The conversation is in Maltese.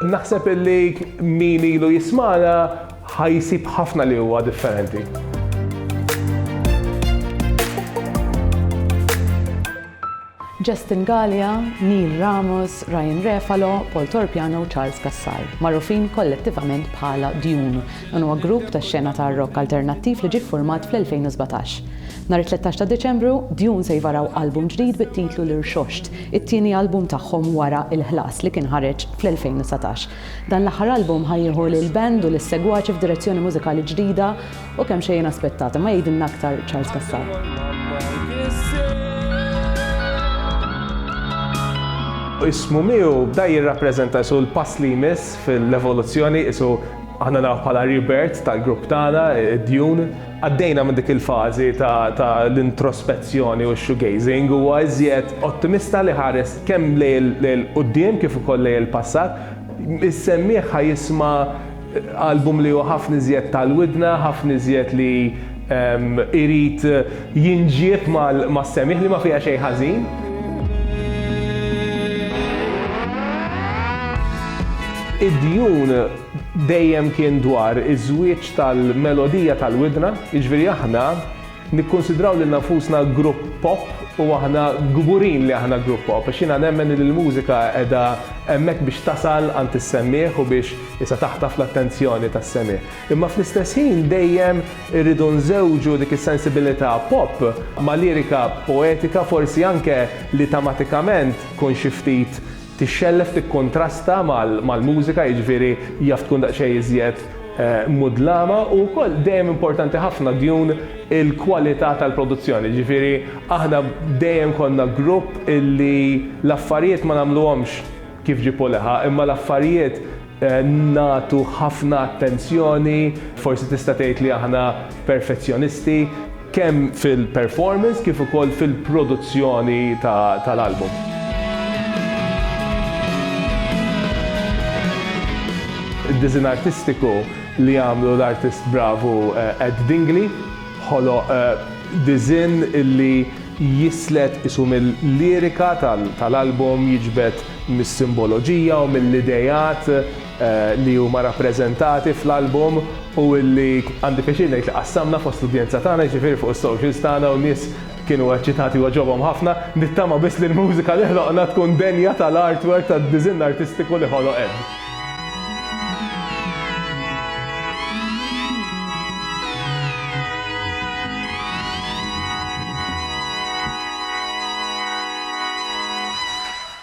Naħseb illi min ilu jismana ħajsib ħafna li huwa differenti. Justin Gallia, Neil Ramos, Ryan Refalo, Paul Torpiano u Charles Cassar, magħrufin kollettivament bħala Dune, Dan huwa grupp ta' xena ta' rock alternattiv li ġie ffurmat fl-2017. Nhar it-tlettax ta' Diċembru, Dune se jvaraw album ġdid bit-titlu L-Irxoxt, it-tieni album tagħhom wara Il-Ħlas li kien ħareġ fl-2019. Dan l-aħħar album ħa jieħu lill-band u lis-segwaċi f'direzzjoni mużikali ġdida u kemm xejn inaspettata, imma jgħidilna aktar Charles Cassar. Ismu miegħu bda jirrappreżenta qisu l-pass li jmiss fil-evoluzzjoni, qisu Aħna naf bħala rebirth tal-grupp tagħna, Dune. Għaddejna minn dik il-fażi ta' l-introspezzjoni u x-shoegazing, huwa iżjed ottimista li ħares kemm lejn il-quddiem kif ukoll lejn il-passat. Is-semmiegħ ħa jisma' album li hu ħafna iżjed tal-widna, ħafna iżjed li jrid jinġieb mas-semmiegħ li ma fiha xejn ħażin. Id-Dune dejjem kien dwar iż-żwieġ tal-melodija tal-widna, jiġifieri aħna nikkunsidraw lilna nfusna grupp pop u aħna kburin li aħna grupp pop għax jiena nemmen li l-mużika qiegħda hemmhekk biex tasal għand is-semmiegħ u biex issa taħtaf l-attenzjoni tas-semigħ. Imma fl-istess ħin dejjem irridu nżewġu dik is-sensibilità pop ma' lirika poetika forsi anke li tematikament tkun xi ftit Tixxellef tikkuntrasta mal-mużika, jiġifieri jaf tkun daqsxejn iżjed mudlama u wkoll dejjem importanti ħafna djun il-kwalità tal-produzzjoni, jiġifieri aħna dejjem konna grupp illi l-affarijiet ma nagħmluhomx kif ġieb u leħa imma l-affarijiet nagħtu ħafna attenzjoni, forsi tista' tgħid li aħna perfezzjonisti, kemm fil-performance kif ukoll fil-produzzjoni tal-album. Id-diżinn artistiku li għamlu l-artist bravu Ed Dingli ħoloq diżinn li jislet qisu mil-lirika tal-album, jiġbed mis-simboloġija u mill-ideat li huma rappreżentati fl-album u li għandi pjaċir ngħid li qassamna fost l-udjenza tagħna, jiġifieri fuq is-socials tagħna u n-nies kienu eċċitati u għaġobhom ħafna. Nittama biss li l-mużika li ħloqna tkun denja tal-artwork tad-diżinn artistiku li ħoloq Ed.